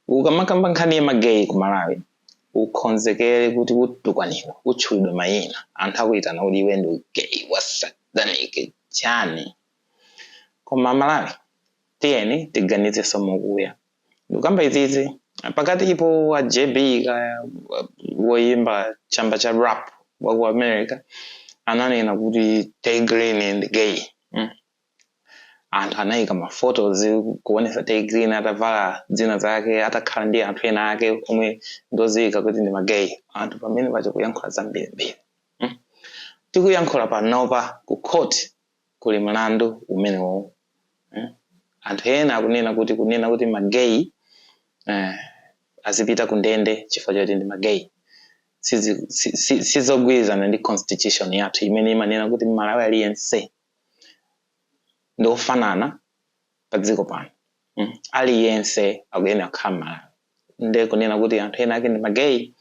ukamakamba nkhani ya mageyi ku malawi ukhonzekere kuti utukwanidwa utchulidwa mayina anthu akuyitana kuti iwe ndi gay wa satanic chani koma malawi tiyeni tiganizenso mokuya ndikukamba izizi pakatipo a jb kaya wa- woyimba chamba cha rap wa ku america ananena kuti tay green ndi gay mm. anthu anayika ma photos kuonesa tay green atavala zina zake atakhala ndi anthu ena ake omwe ndodziwika kuti ndi ma gay anthu pamene paja kuyankhula zambirimbiri mm? tikuyankhula panopa ku court kuli mlandu umenewo mm? anthu ena akunena kuti kunena kuti ma gay eh, azipita ku ndende chifukwa choti ndi ma gay sizogwirizana ndi constitution yathu imene imanena kuti mmalawi aliyense ndi ofanana pa dziko pano mm. aliyense akuyenera kukhala mmalawi nde kunena kuti anthu ena ake ndi mageyi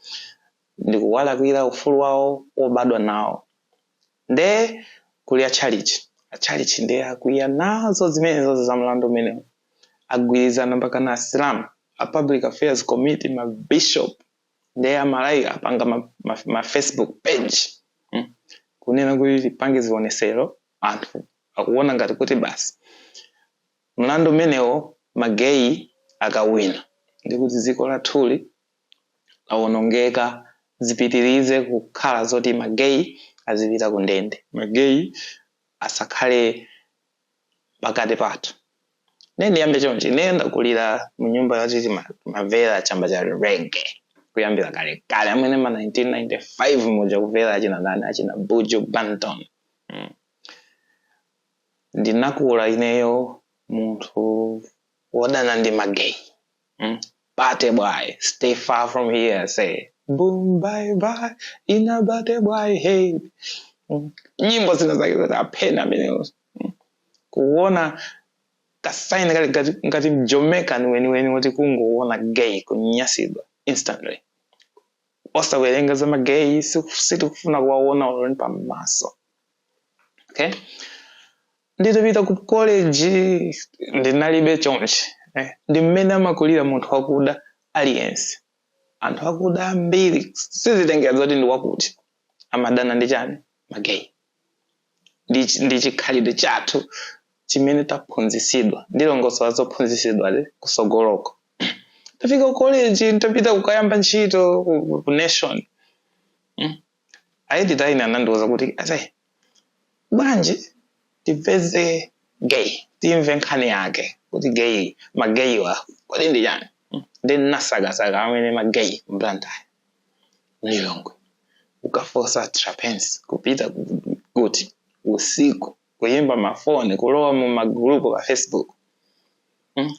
ndi kuwalakwira ufulu wawo wobadwa nawo nde kuli atchalichi atchalichi nde akwiya nazo zimenezo za mlandu umenewu agwirizana mpaka na asilamu a public affairs committee ma bishop ndiye amalawi apanga ma, ma, ma facebook page mm? kunena kuti tipange zionesero anthu akuona ngati kuti basi mlandu umenewo mageyi akawina nde kuti dziko lathuli lawonongeka zipitirize kukhala zoti mageyi azipita ku ndende mageyi asakhale pakati pathu nde ndiyambe chonchi ineyo ndakulira mu nyumba yoti timamvera chamba cha rege kuyambira kale kale mmene ma 1995 muja kumvera achina ndani achina buju banton mm. ndinakula ineyo munthu wodana ndi mageyi Mm. Batty boy, stay far from here, say. Boom, bye bye, inna batty boy head. Mm. Nyimbo zina zake zoti aphedwe amenewo. Mm. Kuona kasaini kali ngati ngati m'Jamaican weniweni woti kungoona gay kunyasidwa instantly. Osawerengaza magay sitikufuna kuwaona olo ndi m'maso. Okay? nditapita ku college ndinalibe choncho eh, ndi mmene amakulira munthu wakuda aliyense anthu akuda ambiri sizitengera zoti ndi wakuti amadana ndi chani mageyi ndi chi- ndi chikhalidwe chathu chimene taphunzisidwa ndilongosola zophunzisidwazo kusogoloko tafika ku college nditapita kukayamba ntchito ku, ku nation aeditor ine anandiuza kuti ase bwanji tipeze gay timve nkhani yake kuti gay mageyiwa kodi ndi chani Mm. nde nasakasaka amene mageyi mblantayo mlilongwe ukafosa trapence kupita ku- kuti usiku kuyimba mafoni kulowa mu magulupu pa facebook Mm.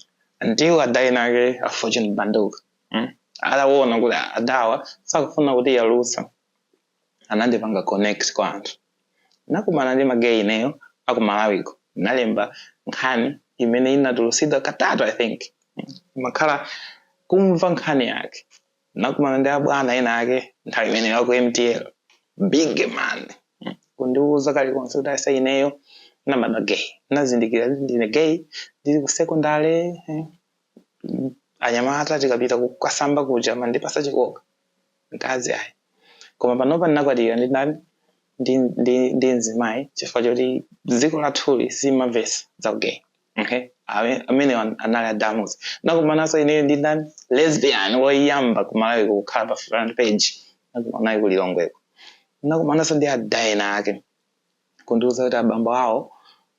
ndiye ada enake a fortune banduka mm? ataona kuti adawa sakufuna kutiyalutsa anandipanga connect kwa anthu nakumana ndi magei ineyo akumalawiko nalemba nkhani imene inatulusidwa katatu i think makhala kumva nkhani yake nakumana ndi abwana ena ake nthawi imene aku mtl big man Mm. kundiuza kalikonse kuti asa ineyo nabadwa gay nazindikira kuti ndine gay ndili ku sekondale eh, mm, anyamata tikapita kukasamba kuja amandipasa chikoka mkazi ayi koma panopa ndinakwatira ndi ndani ndi, ndi, ndi mzimayi chifukwa choti dziko lathuli silimamvetsa za gay okay Ame- amenewo an- anali a Dalmuzi nakumananso ineyo ndi ndani lesbian woyamba kumalawi kukhala pa front page nakumana naye kulilongweko nakumananso ndi ada ena ake kundiuza kuti abambo awo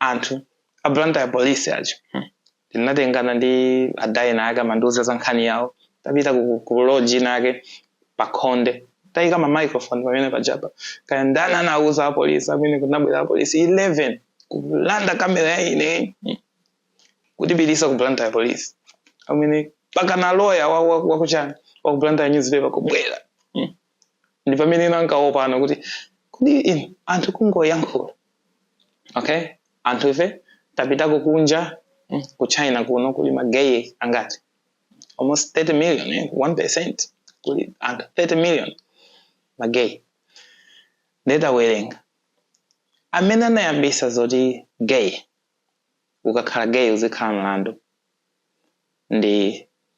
anthu a Blantyre police aja hmm. ndinatengana ndi ada ena ake amandiuza za nkhani yawo tapita ku, ku lodge inake pakhonde taika ma microphone pamene pajapa kaya ndani anauza apolisi amene kunabwera apolisi 11 kulanda kamera ya ineyo hmm. kutipitisa ku Blantyre police amene pakana loya wakuchani wa, wa, wa ku Blantyre newspaper kubwera ndi pamene ena ankawopana kuti kodi inu anthu kungoyankhula okay anthu ife tapitako kunja mm, ku china kuno kuli mageye angati almost 30 million eh? 1 percent kuli anthu 30 million mageye nde tawerenga amene anayambisa zoti gay ukakhala gay uzikhala mlandu ndi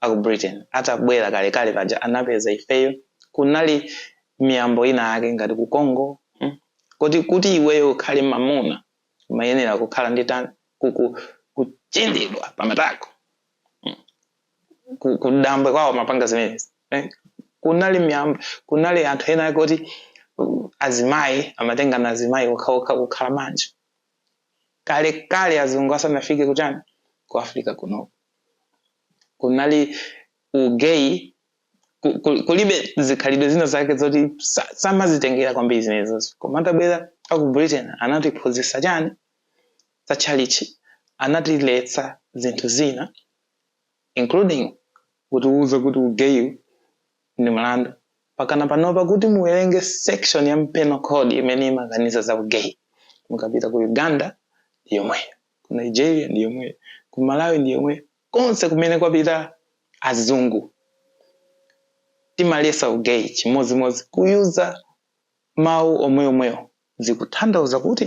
aku Britain atabwera kalekale paja anapeza ifeyo kunali miyambo ina yake ngati ku Congo mm, kuti kuti iweyo ukhale mamuna umayenera kukhala ndi tani ku- ku- kuchindidwa pamatako mm, ku- kudambwe kwawo mapanga zimenezi eh, kunali miyambo kunali anthu ena ake kuti uh, azimayi amatengana azimayi okhaokha kukhala banja kale kale azungu asanafike kuchani ku africa kunoku kunali ugay ku- ku- kuli zikhalidwe zina zake zoti sa- samazitengera kwambiri zimenezozo koma atabwera aku britain anatiphunzitsa chani za tchalitchi anatiletsa zinthu zina including kutiuza kuti ugeyu ndi mlandu pakana panopa kuti muwerenge section ya penal code imene imakaniza za ugay mukapita ku uganda ndi yomweyo ku nigeria ndi yomweyo ku malawi ndi yomweyo konse kumene kwapita azungu timalesa ugay chimodzimodzi kuyuza mawu omweomwewo zikutanthauza kuti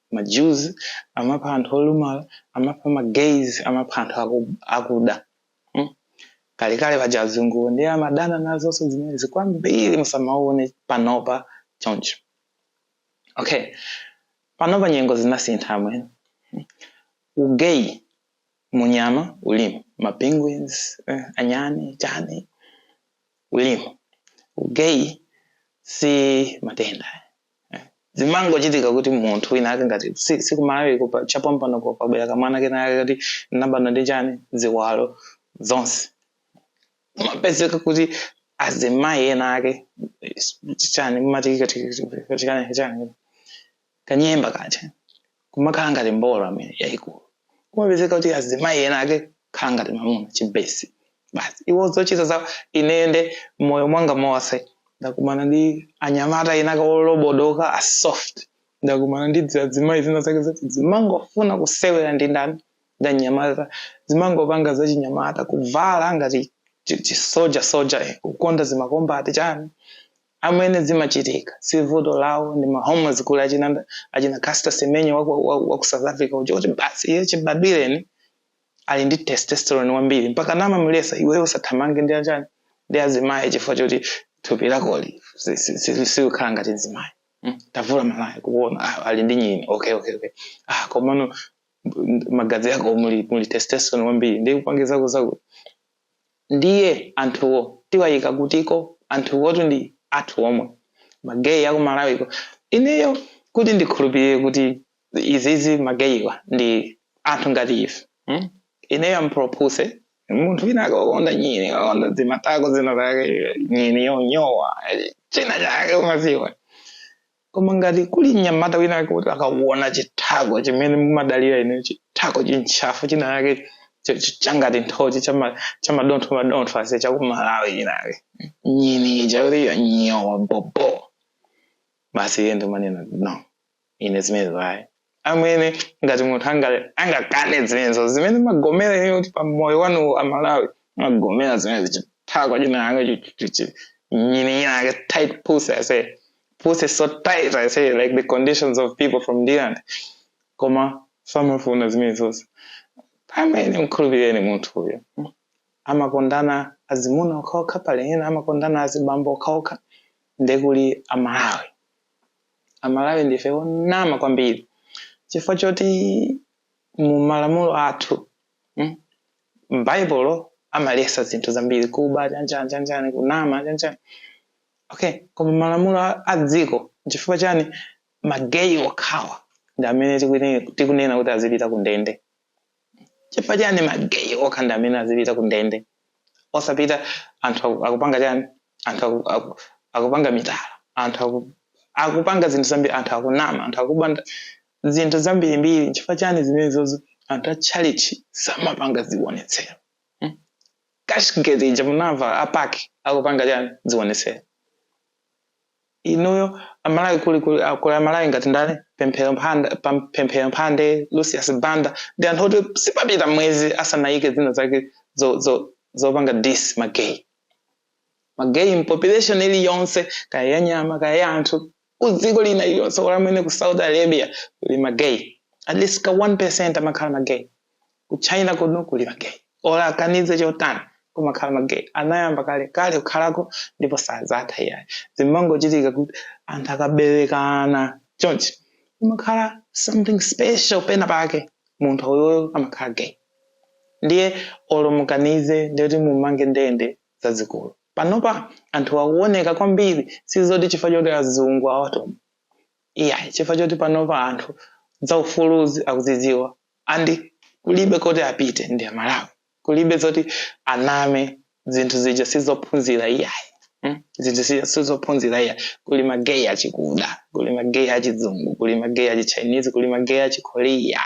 ma Jews, amapha anthu olumala, amapha ma gays, amapha anthu aku, akuda. Hmm? Kalekale paja azunguwo ndiye amadana nazonso zimenezi kwambiri musamaone panopa choncho. Okay. Panopa nyengo zinasintha amwene. Hmm? Ugay munyama ulimo, ma penguins, eh, anyani, chani, ulimo. Ugay si matenda. eh, zimangochitika kuti munthu wina ake ngati si- sikumalawiko pa- chapompano pa- kwabwera kamwana kena ake kuti nabadwa ndi chani ziwalo zonse kumapezeka kuti azimayi ena ake eh, chani mumati kati- kati- kati- chani chani kanyemba kake kumakhala ngati mbolo amwene yayikulu kumapezeka kuti azimayi ena ake kukhala ngati mamuna chibesi basi iwo zochita za ineyo m'moyo mwanga monse ndakumana ndi anyamata ena ake olobodoka a soft ndakumana ndi dzimayi zina zake zoti zimangofuna kusewera ndi ndani ndi anyamata zimangopanga zachinyamata kuvala ngati chisoja soja eh, kukonda zimakombati chani Amwene zimachitika sivuto lawo ndi ma hormones kuli achina achina Caster Semenya wa ku wa ku South Africa uja oti basi iye chibadwireni ali ndi testosterone wambiri mpaka namamulesa iweyo usathamange ndi achani ndi azimayi chifukwa choti thupi lakoli si- si- si- silikhala ngati mzimayi Mm, tavula malaya kuona ah, ali ndi nyini okay okay okay ah komano m- magazi ako muli muli testosterone wambiri ndi kupangitsa kuzaku Ndiye anthuwo tiwayika kutiko? Anthuwotu ndi athu omwe. Ma gay aku Malawiko. Ineyo kuti ndikhulupirire kuti izizi ma gaywa ndi anthu ngati ife mm ineyo am pro pussy. Munthu winawake wokonda nyini, wokonda dzimatako zina zake, nyini yonyowa, china chake umadziwa. koma ngati kuli mnyamata wina wake kuti akakuona chithako chimene mumadalira ineyo chithako chintchafu chinachake ch- ch- changati nthochi chama- chamadontho madontho ase chakumalawi china yake nyini chakutiyo nyowa bobo basi iye nkumanena no ine zimenezo ayi amene ngati munthu angakane zimenezo zimene mumagomera iye kuti pa moyo wanu a malawi mumagomera zimene zichithako china yake nyini yake tight pussy i say pussy so tight i say like the conditions of people from Thailand koma samafuna zimene zonse amene mkhulupireni munthu uyo amakondana azimuna okhaokha pali ena amakondana azibambo okhaokha ndekuli amalawi amalawi ndife onama kwambiri chifukwa choti mu malamulo athu m'baibulo amalesa zinthu zambiri kuba chanjani chanjani kunama chanjani okay koma malamulo a- a dziko chifukwa chani mageyi okhawa ndi amene tikune- tikunena kuti azipita ku ndende chifukwa chani mageyi okha ndi amene azipita ku ndende osapita anthu aku- akupanga chani anthu aku- aku- akupanga mitala anthu aku- akupanga zinthu zambiri anthu akunama anthu akuba nda- zinthu zambirimbiri chifukwa chani zimenezozo anthu a chalichi samapanga zionetsero Hmm? cashgate ija munamva apaki akupanga chani zionetsero inuyo amalawi kuli kuli ah, kuli amalawi ngati ndani pemphero mphanda pam- pemphero mphande lucius banda ndi anthu oti sipapita mwezi asanayike zina zake zo- zo- zopanga dis mageyi mageyi mpopulation iliyonse kaya ya nyama kaya ya anthu kudziko lina iliyonse olo mwene ku saudi arabia kuli mageyi at least ka 1 percent amakhala mageyi ku china kuno kuli mageyi olo akanize chotani kumakhala mageyi anayamba kale kale kukhalako ndipo sadzatha iyayi zimangochitika kuti anthu akaberekana chonchi kumakhala something special pena pake munthu uyoyo amakhala gay ndiye olo mukanize ndiyoti mumange ndende zazikulu panopa anthu akuoneka kwambiri sizoti chifukwa choti azungu awatuma iyayi chifukwa choti panopa anthu zaufuluzi akuzidziwa and kulibe koti apite ndi amalawi kulibe zoti aname zinthu zija sizophunzira iyayi hmm? zinthu zija sizophunzira iyayi kuli mageyi achikuda kuli mageyi achizungu kuli mageyi achichinese kuli mageyi achikorea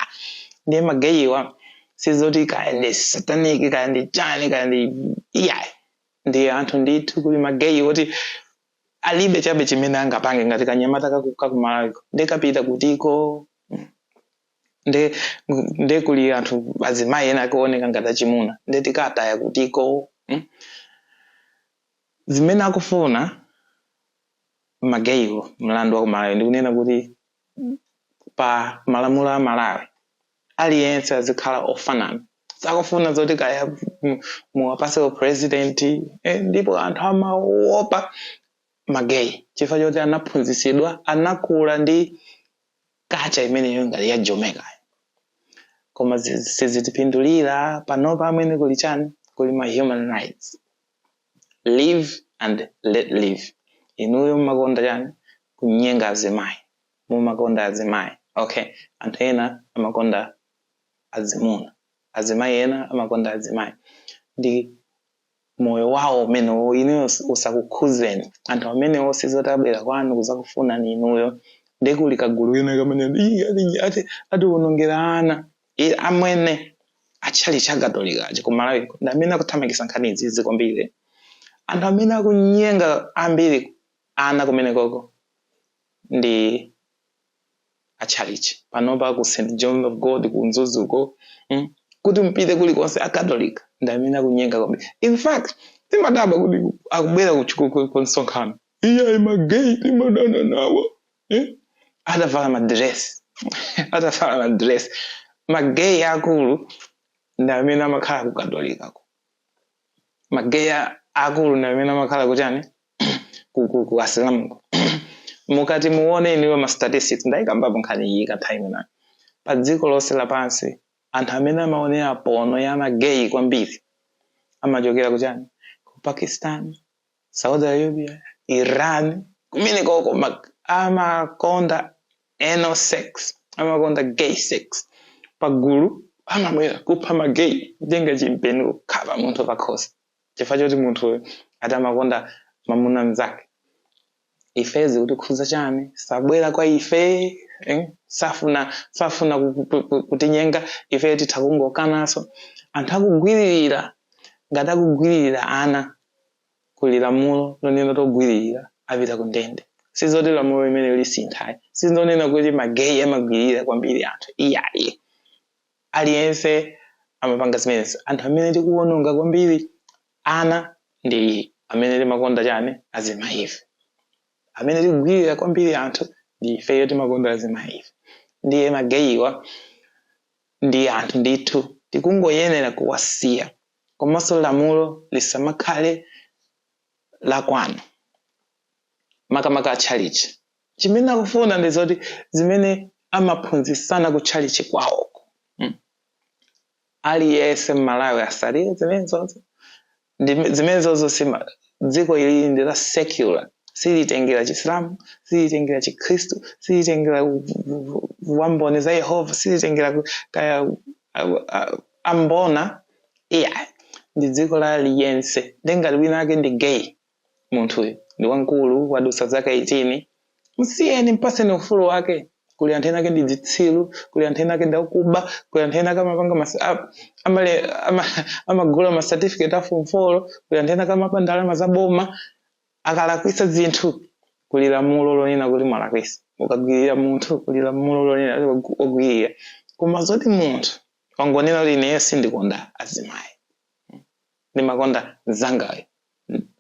ndiye mageyiwa sizoti kaya ndi sataniki kaya ndi chani kaya ndi iyayi ndiye anthu ndithu kuli mageyi oti alibe chabe chimene angapange ngati kanyamata kaku- kakumalawiko nde kapita kutiko nde nde kuli anthu azimayi ena akuoneka ngati achimuna nde tiwataya kutiko mm? zimene akufuna mageyiwo mlandu wa kumalawi ndikunena kuti pa malamulo a malawi aliyense azikhala ofanana sakufuna zoti kaya muwapase upresident eh, ndipo anthu amaopa mageyi chifukwa choti anaphunzisidwa anakula ndi kacha imeneyo ngati ya jomekayo koma zi- sizitipindulira panopa amwene kuli chani kuli ma human rights live and let live inuyo mmakonda chani kunyenga azimayi mumakonda azimayi okay anthu ena amakonda azimuna azimayi ena amakonda azimayi ndi moyo wawo umenewo inuyo us- usakukhuzeni anthu amenewo sizoti abwera kwanu kuzakufunani inuyo nde kuli kagulu kena kamene "Ii, ati- ati atiwonongera ana Ii, amwene a tchalitchi cha katolikachi ku malawi ndi amene akuthamangisa nkhani zizi kwambiri anthu amene akunyenga ambiri ana kumenekoko ndi a tchalitchi panopa ku St John of God ku Mzuzuko mm, kuti mpite kulikonse akatolika ndi amene akunyenga kwambiri. In fact timadabwa kuti akubwera ku- ku- ku- ku msonkhano iyayi mageyi timadana nawo eh? atavala madiresi atavala madiresi mageyi akulu ndi amene amakhala ku Katolikako. mageyi akulu ndi amene amakhala kuchani ku- ku- ku asilamuko mukati muone inuyo ma statistics ndayikambapo nkhani iyi ka time inayi pa dziko lonse lapansi anthu amene amaonera pono ya mageyi kwambiri amachokera kuchani ku pakistan saudi arabia iran kumenekoko ma- amakonda anal sex amakonda gay sex pagulu amabwera kupha magay kutenga chimpeni kukhapa munthu pakhosi chifukwa choti munthuyo ati amakonda mamuna mzake ife zikutikhudza chani sabwera kwa ife eh? safuna safuna ku- ku- ku- kutinyenga ife titha kungokanaso anthu akugwiririra ngati akugwiririra ana kuli lamulo lonena togwiririra apita ku ndende sizoti lamulo limene lisintha ayi sizonena kuti mageyi amagwiririra kwambiri anthu iyayi aliyense amapanga zimenezi anthu amene tikuwononga kwambiri ana ndi amene timakonda chani azimayife amene tikugwirira kwambiri anthu ndi ifeyo timakonda azimayife ndiye mageyiwa ndi anthu ndithu tikungoyenera kuwasiya komanso lamulo lisamakhale lakwanu makamaka atchalichi chimene akufuna ndi zoti zimene amaphunzitsana ku tchalichi kwawoko mm. aliyense mmalawi atsatire zimenezozo zimenezozo dziko ili ndi la secular silitengera chisilamu silitengera chikhristu silitengera ku- ku- ku- wamboni za yehova silitengera ku- kaya a- a- ambona iya ndi dziko la aliyense ndi ngati wina ake ndi gay munthuyu ndi wamkulu wadutsa zaka 18 msiyeni mpaseni ufulu wake kuli anthu ena ake ndi zitsilu kuli anthu ena ake ndi akuba kuli anthu ena ake amapanga mas- a- amale ama- amagula ma certificate a form 4 kuli anthu ena ake amaba ndalama za boma akalakwisa zinthu kuli lamulo lonena kuti mwalakwisa ukagwirira munthu kuli lamulo lonena kuti wagu- wagwirira koma zoti munthu wangonena kuti ineyo sindikonda azimayi ndimakonda mzangayo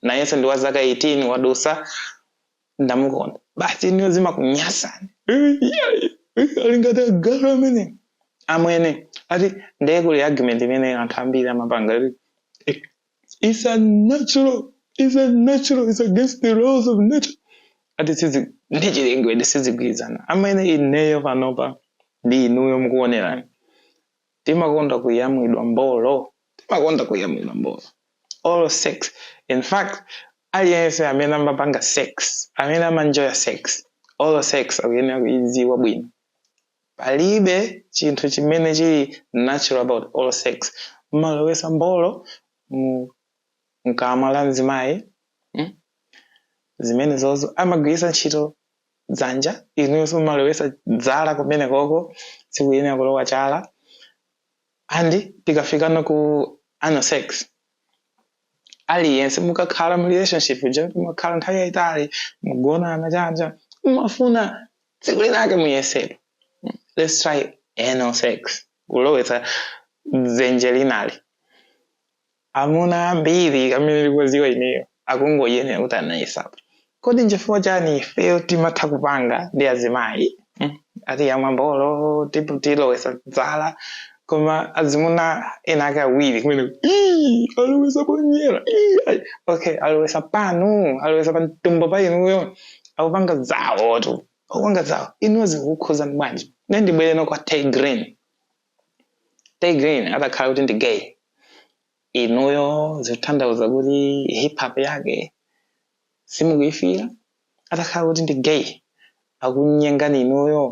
nayenso ndi wa zaka 18 wadusa ndamukonda basi inuyo zimakunyasani alingati agalu amwene amwene ati ndiye kuli argument imene anthu ambiri amapanga ati eh, it's unnatural it's unnatural it's against the laws of nature ati sizi ndi chilengedwe sizigwirizana amwene ineyo panopa ndi inuyo mukuonerani timakonda kuyamwidwa mbolo timakonda kuyamwidwa mbolo oral sex in fact aliyense amene amapanga sex amene amanjoya sex oral sex akuyenera kuidziwa bwino palibe chinthu chimene chili natural about oral sex mmalowesa mbolo mu mkamwa la mzimayi mm? zimene zozo amagwiritsa ntchito dzanja inuyonso mumalowesa dzala kumene koko sikuyenera kulowa chala and tikafikano ku anal sex aliyense mukakhala mu relationship uja mumakhala nthawi yayitali mugonana chani chani mumafuna tsiku linake muyesepo let's try anal sex kulowetsa dzenje linalo Amuna ambiri amene ndikuwaziwa ineyo akuyenera kuti anayesapo kodi nchifukwa chani ifeyo timatha kupanga ndi azimayi mm, ati yamwa mbolo tipo tilowesa dzala koma azimuna ena ake awiri kumene "Ii, alowesa ponyera ii, ai." okay alowesa panu alowesa pa mtumbo pa inuyo akupanga zawotu akupanga zawo inuyo zikukukhuzani bwanji ne ndibwereno kwa tay grin tay grin atakhala kuti ndi gay inuyo zikutanthauza kuti hip hop yake simukuyifila atakhala kuti ndi gay akunyengani inuyo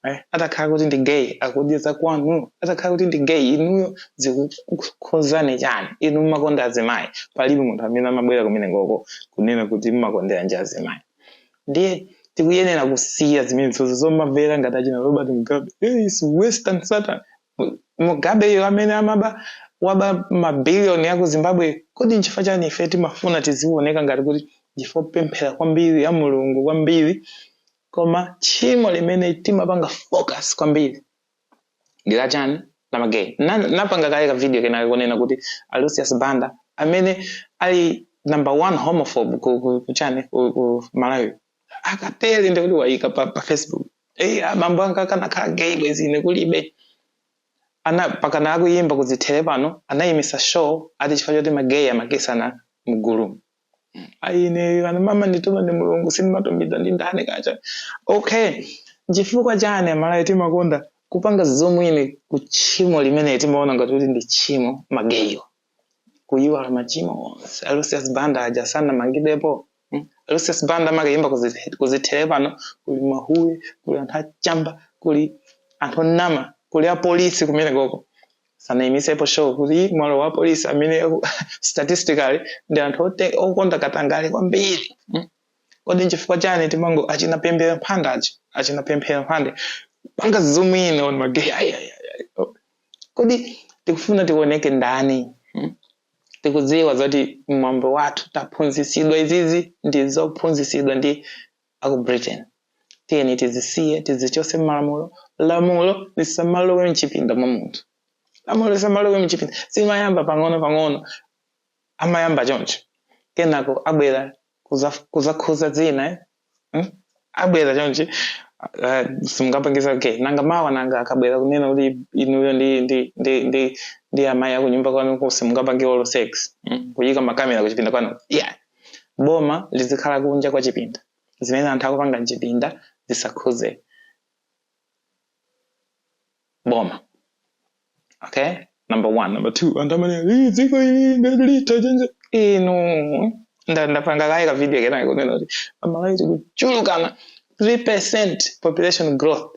eh? atakhala kuti ndi gay akudyera kwanu atakhala kuti ndi gay inuyo zikukukhuzani chani inu mumakonda azimayi palibe munthu amene amabwera kumene koko kunena kuti mumakondera nji azimayi ndiye tikuyenera kusiya zimenezozo zomavera ngati achina robert mugabe hey, it's western satan mugabeyo amene amaba waba mabiliyoni a ku zimbabwe kodi nchifukwa chani ife timafuna tiziwoneka ngati kuti ndife opemphera kwambiri a mulungu kwambiri koma tchimo limene timapanga focus kwambiri ndi la chani la magay napanga kale ka video kenakake konena kuti a lucius banda amene ali number one homophobe ku, ku, ku chani ku, ku malawi akatele ndikuti wayika apa, pa facebook eyi eh, abambo anga akanakhala gay bwezi ine kulibe ana pakana akuyimba kudzithere pano anayimitsa show ati chifukwa choti magay amakisana mgulu mu ayi ineyo amene amandituma ndi mulungu sindimatumidwa ndi ndani kacha okay nchifukwa chani amalawi timakonda kupanga zoom in ku tchimo limene timaona ngati kuti ndi tchimo magay kuyiwala machimo onse a lucius banda aja sanamangidwepo mm? a lucius banda amakayimba kuzi- kuzithere pano kuli mahuwe kuli anthu achamba kuli anthu onama kuli apolisi kumene koko sanayimisepo show kuti mwalowa apolisi amene statistically ndi anthu ote- okonda katangale kwambiri mm. kodi nchifukwa chani timango achina pemphera mphande achi achina pemphera mphande panga zoom in on magay Ai, ai, ai. Oh. kodi tikufuna tioneke ndani mm. tikudziwa zoti mwambo wathu taphunzisidwa izizi ndi zophunzisidwa ndi aku Britain tiyeni tizisiye tizichotse mmalamulo lamulo lisamalowe mchipinda mwa munthu lamulo lisamalowe mchipinda zimayamba pang'ono pang'ono amayamba choncho kenako abwera kuza- kuzakhuza zina eh? hmm? abwera chonchi uh, simungapangisa okay nanga mawa nanga akabwera kunena kuti inuyo ndi ndi ndi ndi ndi amayi akunyumba kwanu simungapange oral sex hmm? kuyika makamera kuchipinda kwanu yeah Boma lizikhala kunja kwa chipinda. Zimene anthu akupanga m'chipinda zisakhuze boma. Okay? Number one. Number two, anthu amanena, "Ih, dziko ili litha change." Inu, nda- ndapanga kaye ka video kenakake konena kuti amalawi tikuchulukana 3% population growth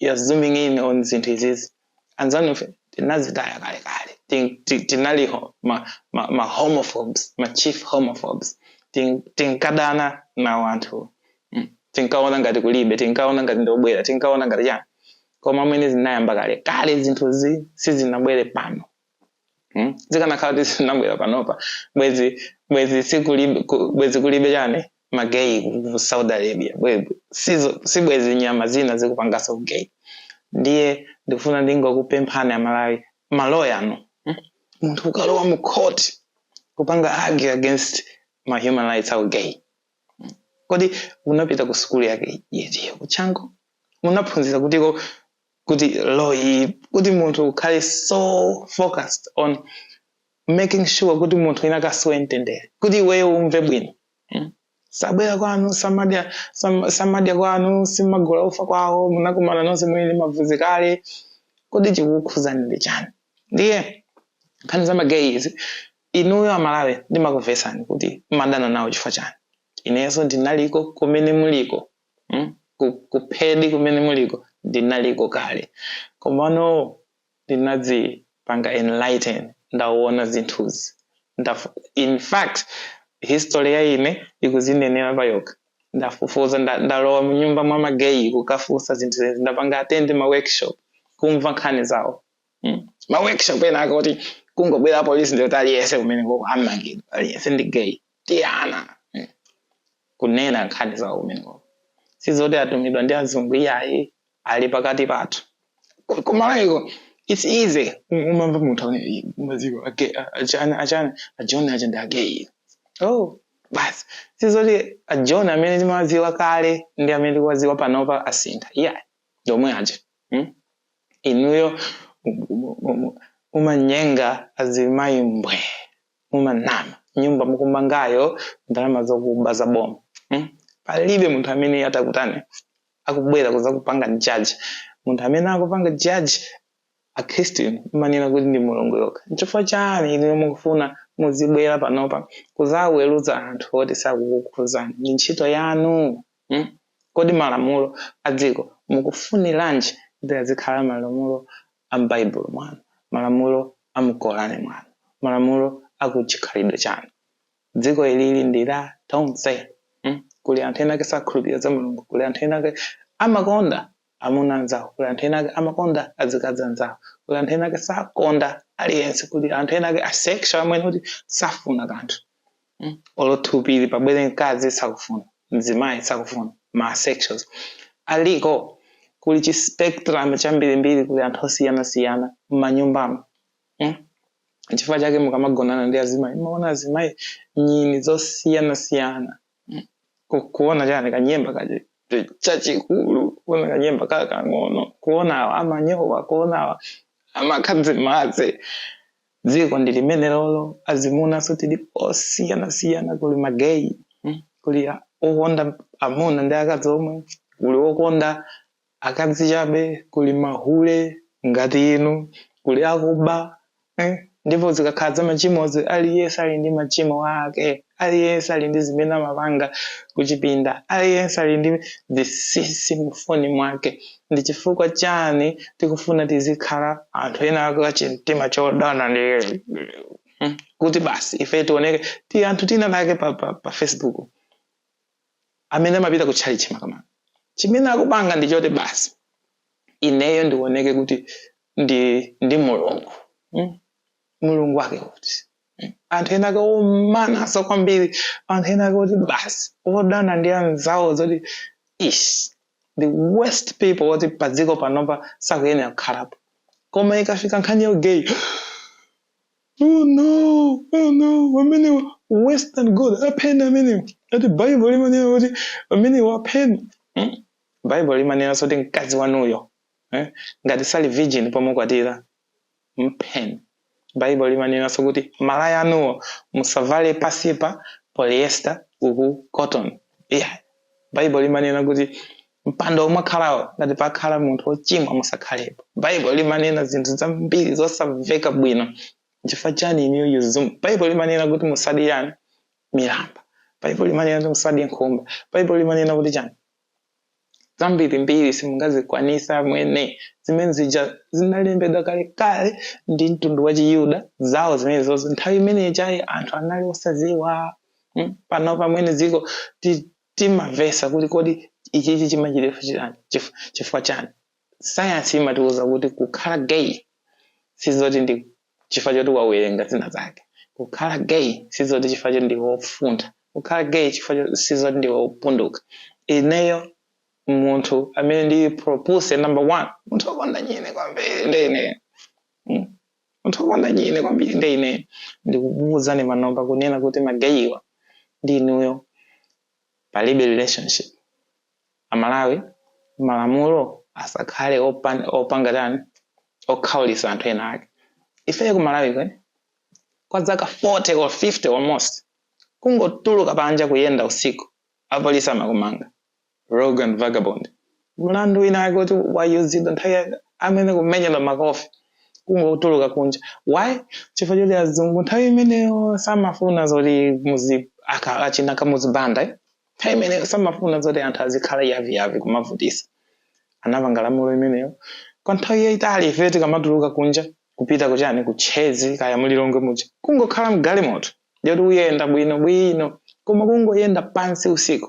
you're zooming in on zinthu izizi anzanu ife tinazitaya kale kale Tin- ti- tinali ma, ma, ma homophobes ma chief homophobes Tin- tinkadana nawo anthuwa mm. tinkaona ngati kulibe tinkaona ngati ndobwera tinkaona ngati chani koma mwene zinayamba kale kale zinthu izi sizinabwere pano hmm? zikanakhala kuti zinabwera panopa bwezi bwezi sikulibe bwezi kulibe chani mageyi ku saudi arabia si bwezi nyama zina zikupangaso ugay ndiye ndikufuna ndingokupemphani amalawi maloya anu hmm? munthu ukalowa mu court kupanga argue against ma human rights au gay hmm? kodi unapita ku sukulu yake yetiyo kuchanco unaphunzira kutiko kuti law-yi kuti munthu ukhale so focused on making sure kuti munthu wina akasowe mtendere kuti iweyo umve bwino mm. sabwera kwanu samadya sam, samadya kwanu simumagula ufa kwawo munakumana nonse muli ndi mavuzi kale kodi chikukukhudzani ndi chani ndiye nkhani za mageyi izi inuyo amalawi ndimakuvesani kuti madana nawo chifukwa chani inenso ndinaliko kumene muliko mm? ku, ku hate kumene muliko ndinaliko kale komano ndinadzipanga enlighten ndaona zinthuzi Ndafu, in fact history ya ine ikuzinenera payokha ndafufuza nda, ndalowa mnyumba mwa mageyi kukafunsa zinthu zezi ndapanga attend ma workshop kumva nkhani zawo mm? ma workshop ena akoti kungobwera polisi ndiye kuti aliyense kumeneko amangidwa aliyense ndi gay tianthu mm. kunena nkhani zawo kumeneko sizoti atumidwa ndi azungu iyayi ali pakati pathu Ku- kumaliroko its easy Um- umamva munthu amene mumaziwa age- a- achana achana ajoni aja ndi ageyi oh basi sizoti ajoni amene timawaziwa kale ndi amene tikuwaziwa panopa asintha iyayi ndomwe aja mm? inuyo um- um- um- umanyenga azimayi mbwe mumanama, nyumba mukumangayo ndalama zokuba za boma hmm? palibe munthu amene angakutani akubwera kuzakupanga jaji munthu amene akupanga jaji akhristu inu mmanena kuti ndi mulungu yokha nchifukwa chani inu mukufuna muzibwera panopa kuzaweruza anthu oti sakukukhuzani ndi ntchito yanu Hmm? Kodi malamulo a dziko mukufuniranji kuti azikhala malamulo a m'Baibulo mwanu, malamulo a mu Korani mwanu, malamulo a ku chikhalidwe chanu? Dziko ilili ndi la tonse. Hmm? Kuli anthu ena ake sakhulupirira za Mulungu, kuli anthu ena ake amakonda amuna anzawo, kuli anthu ena ake amakonda azikazi anzawo, kuli anthu ena ake sakonda aliyense, kuli anthu ena ake asexual amene kuti safuna kanthu. mm? olo thupili pabwere mkazi sakufuna mzimayi sakufuna ma asexuals aliko kuli chi spectrum chambirimbiri kuli anthu osiyanasiyana mmanyumbamo mm? chifukwa chake mukamagonana ndi azimayi mumaona azimayi nyini zosiyanasiyana mm? Ku- kuona chani kanyemba kaja chachikulu kuona kanyemba kakang'ono kuona awa amanyowa kuona awa amakha zimadzi dziko ndi limenelo azimunanso tili osiyanasiyana kuli mageyi mm, kuli a- okonda amuna ndi akazi omwe kuli okonda akazi chabe kuli mahule ngati inu kuli akuba eh, ndipo zikakhala za machimozi aliyense ali ndi machimo ake aliyense ali ndi zimene amapanga kuchipinda aliyense ali ndi zinsinsi mufoni mwake ndi chifukwa chani tikufuna tizikhala anthu ena ake achimtima chodana ndi hmm, kuti basi ife tioneke ti anthu tinatake pa, pa, pa facebook amene amapita ku chalichi makamaka chimene akupanga ndi choti basi ineyo ndioneke kuti ndi mulungu hmm? mulungu wake kuti anthu ena ake omanaso kwambiri anthu ena ake oti basi odana ndi anzawo zoti ish the worst people oti padziko panopa sakuyenera kukhalapo koma ikafika nkhani ya gay oh no oh no amenewa worse than god apheni amenewa ati bible limanena kuti amenewa apheni hmm? bible limanena kuti mkazi wanuyo eh? ngati sali virgin pomukwatira mpheni baibulo limanenanso kuti malaya anuwo musavale pasipa polyester uku cotton yeah. baibulo limanena kuti mpando omwe wakhalawo ngati pakhala munthu wochimwa musakhalepo baibulo limanena zinthu zambiri zosamveka bwino chifukwa chani iniyo yuzumu baibulo limanena kuti musadye milamba baibulo limanena kuti musadye nkhumba baibulo limanena kuti chani zambirimbiri simungazikwanisa mwene zimene zija zinalembedwa kalekale ndi mtundu wa chiyuda zawo zimenezozo nthawi imene ijayo anthu anali osaziwa mm? pano pamene dziko ti- timavesa kuti kodi ichichi chimachitifu chilani chif- chifukwa chani sayansi imatiuza kuti kukhala gay sizoti ndi chifukwa choti wawerenga zina zake kukhala gay sizoti chifukwa choti ndiwe wofuntha kukhala gay chifukwa cho- sizoti ndiwe wopunduka ineyo munthu amene ndi propuse number one munthu wokonda nyini kwambiri ndi ineyo Mm. munthu wokonda nyini kwambiri ndi ineyo ndikukuuzani panopa kunena kuti magayiwa ndi inuyo palibe relationship amalawi malamulo asakhale opan, opanga tani okhaulisa anthu ena ake ifeyo ku malawi kwe kwa dzaka 40 or 50 almost kungotuluka panja kuyenda usiku apolisi amakumanga rogue and vagabond mlandu winawake kuti wayuzidwa nthawi yake amene kumenyedwa makofi kungotuluka kunja why chifukwa choti azungu nthawi imeneyo samafuna zoti muzi aka- achina Kamuzu Banda eh? nthawi imeneyo samafuna zoti anthu azikhala yaviyavi kumavutisa anapanga lamulo imeneyo kwa nthawi yayitali ife tikamatuluka kunja kupita kuchani ku Chez kaya mu Lilongwe muja kungokhala mgalimoto ndiyoti uyenda bwino bwino koma kungoyenda pansi usiku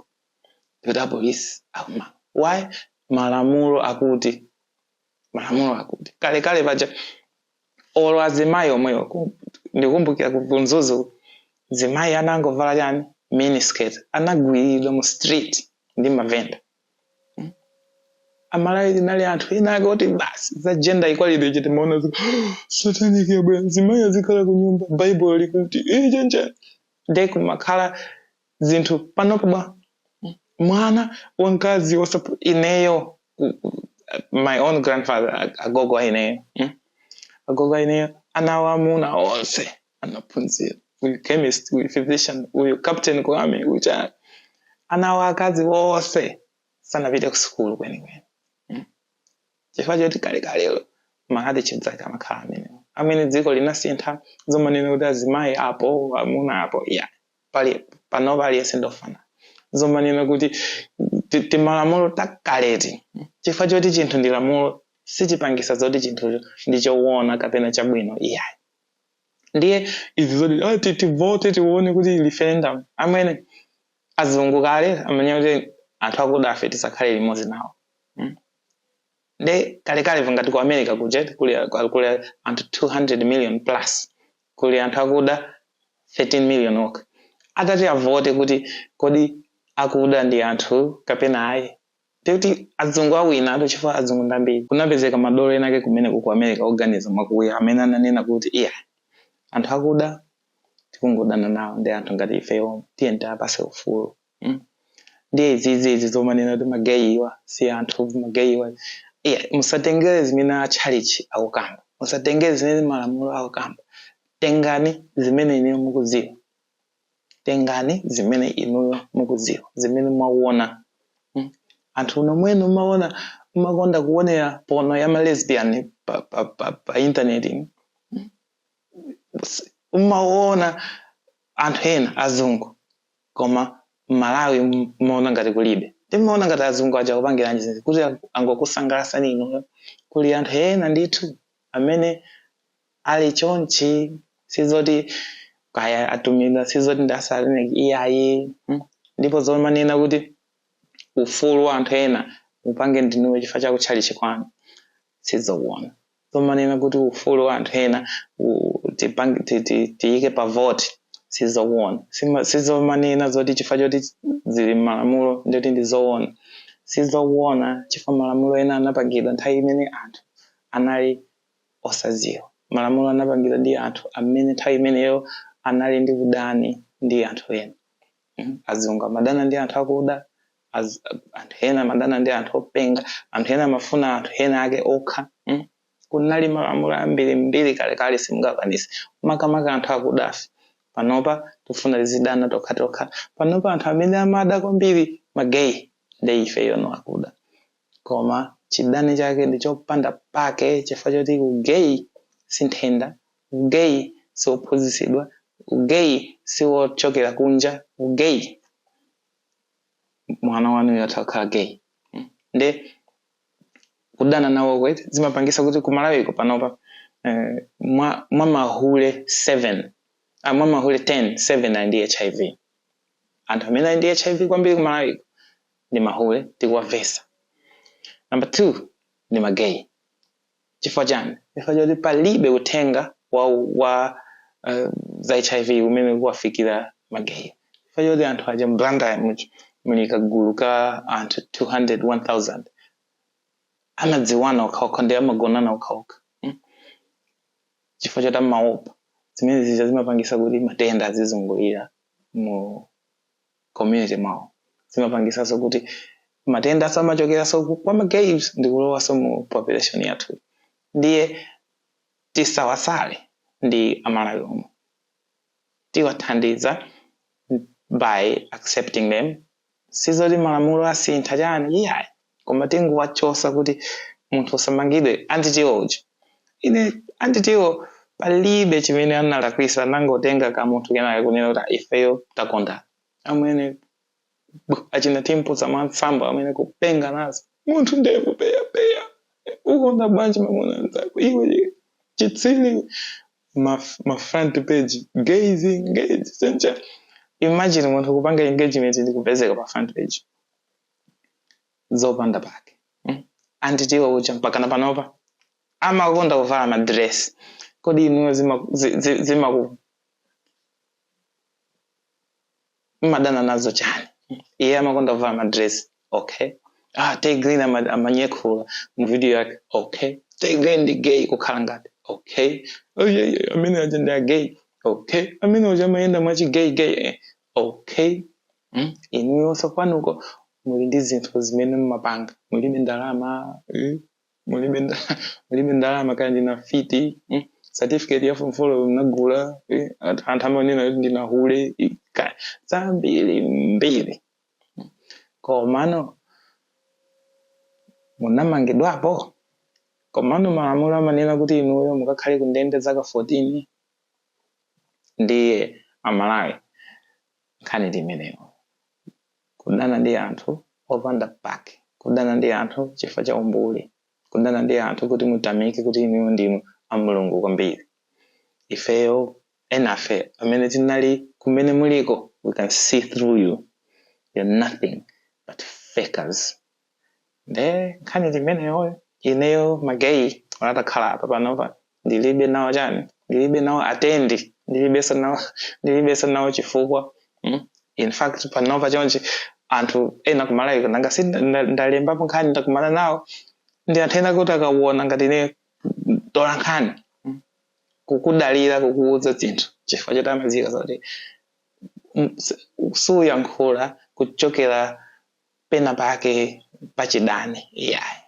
ndiyoti apolisi akuma why malamulo akuti malamulo akuti kalekale paja olo azimayi omweyo ku- ndikumbukira ku ku Mzuzu zimayi anangovala chani miniskirt anagwiridwa mu street ndi mavenda amalawi tinali anthu ena ake akuti basi za gender equality chete timaona zi- satanic yabwera azimayi azikhala ku nyumba baibulo likuti iye chanichani nde kumakhala zinthu panopa bwa mwana wamkazi wosapu ineyo ku- ku- my own grandfather ag- agogo a ineyo mm? agogo a ineyo ana awo aamuna onse anaphunzira uyu chemist uyu physician uyu captain ku army uyu chani ana awo aakazi onse sanapite ku sukulu kwenikweni mm? chifukwa choti kalekalelo mahadi chedzake amakhala amenewo amene dziko linasintha zomanena kuti azimayi apo amuna apo yeah pali panopa aliyense ndofanana zomanena kuti ti- timalamulo takale eti chifukwa choti chinthu ndi lamulo sichipangisa zoti chinthucho ndi chowona kapena chabwino iyayi ndiye izi zoti "Ah, ti- tivote tione kuti referendum amene azungu kale amanena kuti anthu akudafe tisakhale limodzi nawo Mm. nde kalekale pa ngati ku America kuja eti kuli kuli kuli anthu 200 million plus kuli anthu akuda 13 million okha atati avote kuti kodi akuda ndi anthu kapena ayi ndiye kuti azungu awina atu chifukwa azungu ndi ambiri kunapezeka madolo enake kumeneko ku America oganiza mwakuya amene ananena kuti iya anthu akuda tikungodana nawo ndi anthu ngati ifeyo tiyeni tiwapase ufulu mm? ndiye izizizi zomanena kuti mageyiwa si anthu mageyiwa yeah, musatengere zimene atchalichi akukamba musatengere zimene malamulo akukamba tengani zimene inuyo mukudziwa tengani zimene inuyo mukudziwa zimene mwaona mm? anthu uno mwene umaona umakonda kuonera pono ya malesbian pa, pa, pa, pa internet ino umaona anthu ena azungu koma Malawi mumaona ngati kulibe nde mumaona ngati azungu aja akupangilanji zija kuti angokusangalatsani inuyo kuli anthu ena ndithu amene ali chonchi sizoti kaya atumidwa sizoti ndi asataniki iyayi mm. ndipo zomanena kuti ufulu wa anthu ena upange ndinuyo chifukwa cha kutchalichi kwanu sizokuona zomanena kuti ufulu wa anthu ena u- tipange- ti- ti- tiyike pa vote sizokuona Sima- sizomanena zoti chifukwa choti zili m'malamulo ndoti ndi zoona sizokuona chifukwa malamulo ena anapangidwa nthawi imene anthu anali osadziwa malamulo anapangidwa ndi anthu amene nthawi imeneyo anali ndi udani ndi anthu ena Mm, azungu amadana ndi anthu akuda az, anthu ena amadana ndi anthu openga anthu ena amafuna anthu ena ake okha mm. kunali malamulo ambiri mbiri kalekale simungakwanise makamaka anthu akudafe panopa tifuna tizidana tokha tokha panopa anthu amene amada kwambiri mageyi ndi ifeyo ano akuda koma chidani chake ndi chopanda pake chifukwa choti u gay si nthenda, u gay siwophunzitsidwa, u gay siwochokera kunja, u gay mwana wanuyo atha kukhala gay nde kudana nawoko eti zimapangisa kuti ku Malawiko panopa eh, mwa, mwa mahule 7 ah, mwa mahule 10 7 ali ndi HIV anthu amene ali ndi HIV kwambiri ku Malawiko ndi mahule tikuwavesa number two ndi magay chifukwa chani chifukwa choti palibe uthenga wa, wa uh, za hiv umene ukuwafikira magay chifukwa choti anthu aja m'Blantyre much- muli kagulu ka anthu 200 1000 amadziwana okhaokha ndi amagonana okhaokha mm? chifukwa choti amaopa zimene zija zimapangisa kuti matenda azizungulira mu community mwawo zimapangisaso kuti matenda azichokeraso kwa ma gays ndikulowaso mu population yathu ndiye tisawasale ndi amalawi omwe tiwathandize by accepting them sizoti malamulo asintha chani iyayi koma tingowachosa kuti munthu usamangidwe anti Tiwo uja ine anti Tiwo palibe chimene analakwisa anangotenga ka munthu kenakake kunena kuti "Ah, ifeyo takondana amene bu- achina Timpunza Mwansambo amene kupenga nazo munthu ndevu peyapeya ukonda bwanji mamuna nzako iwe chitsili ma, ma front page gays engage, Nation imagine munthu kupanga engagement ndi kupezeka pa front page zopanda pake mm? anti Tiwo uja mpakana panopa amakonda kuvala madress kodi inuyo zimaku zi, zi, zimaku mmadana nazo chani iye amakonda kuvala madress okay ah taigrin ama- amanyekhulira mu video yake okay taigrin ndi gay kukhala ngati okay oh, yeah, yeah, amene aja ndi agay okay amene uja amayenda mwachi gay gay eh. okay mm? inuyonso kwanuko muli ndi zinthu zimene mmapanga mulibe ndalama mm? mulibe nda, mulibe ndalama kaya ndinu afiti mm? certificate ya form four mnagula eh? anthu amanena kuti ndinu ahule zambiri mbiri mm? komano munamangidwapo komano malamulo amanena kuti inuyo mukakhale kundende zaka 14 ndiye amalawi nkhani ndi imeneyo. Kudana ndi anthu opanda pake. Kudana ndi anthu chifukwa cha umbuli. Kudana ndi anthu kuti mutamike kuti inuyo ndinu a Mulungu kwambiri. Ifeyo, enafe amene tinali kumene muliko we can see through you. You're nothing but fakers. nde nkhani ndi imeneyoyo ineyo mageyi atakhala apa panopa ndilibe nawo chani ndilibe nawo atendi ndilibenso nawo ndilibenso nawo chifukwa mm? in fact panopa chonchi anthu ena kumalawi nanga si nda- ndalembapo nkhani ndakumana nawo ndi anthu ena kuti akawona ngati ine mtola nkhani mm? kukudalira kukuwuza zinthu chifukwa choti amadziwa zoti mm, s- suyankhula kuchokera pena pake pachidani iyayi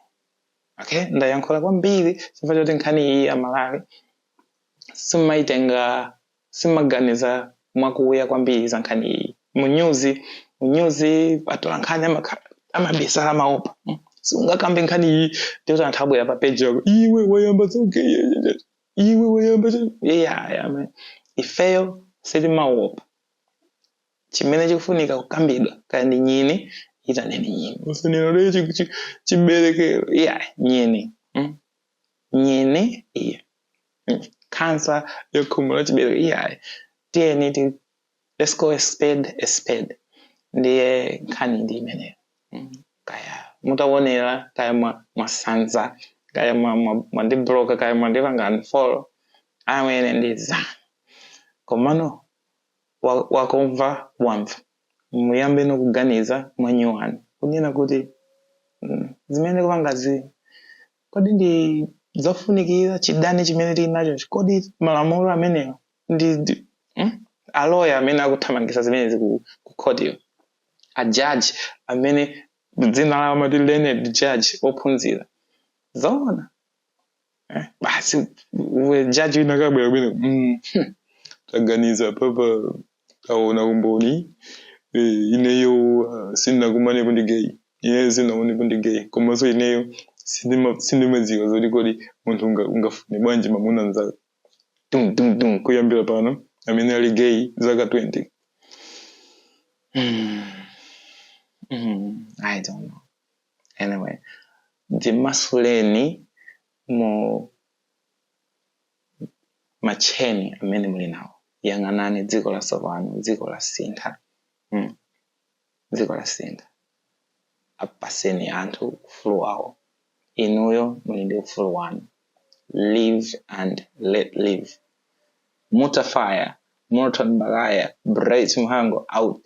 okay ndayankhula kwambiri chifukwa choti nkhani iyi amalawi simaitenga simaganiza mwakuya kwambiri za nkhani iyi munyuzi munyuzi atola nkhani amakha- amabisala amaopa Mm. siungakambe nkhani iyi ndikuti anthu abwera pa peji yako iwe wayamba zogay iwe wayamba zo-" yeah, yeah, man. ifeyo sitimaopa chimene chikufunika kukambidwa kaya ndi nyini itaneni nyini musanene kuti chi- chi- chiberekero iya nyini mm. nyini iya mm. kansa ya khomo la chiberekero iyayi tiyeni ti let's call a spade a spade ndiye nkhani ndi imeneyo mm. kaya mutawonera kaya mwa- mwasanza kaya mwa- mwa- mwandibloka kaya mwandipanga unfollow amene ndi zanu komano wa, wakumva wamva muyambe nokuganiza mwanyuwani kunena kuti mm, zimene ndikupangazi kodi ndi zofunikira chidani chimene tili nacho kodi malamulo amenewa ndi, ndi mm? aloya amene akuthamangisa zimenezi ku, ku khotiko ajaji amene dzina lawo amati learned judge ophunzira zoona Eh, basi jaji wina kabwera bwino mm. taganiza papa aona umboni eh, ineyo uh, sindinakumanepo ndi gay ineyo sindinaonepo ndi gay komanso ineyo sindima- sindimadziwa zoti kodi munthu unga- ungafune bwanji mamuna mnzake tum tum tum kuyambira pano amene ali gay zaka 20 Hmm. Hmm. i don't know anyway dzimasuleni mu matcheni amene muli nawo yang'anani dziko latsopano dziko lasintha mm. dziko lasintha apaseni anthu ufulu wawo inuyo muli ndi ufulu wanu live and let live Mutafire Morton Baghaya bright mhango out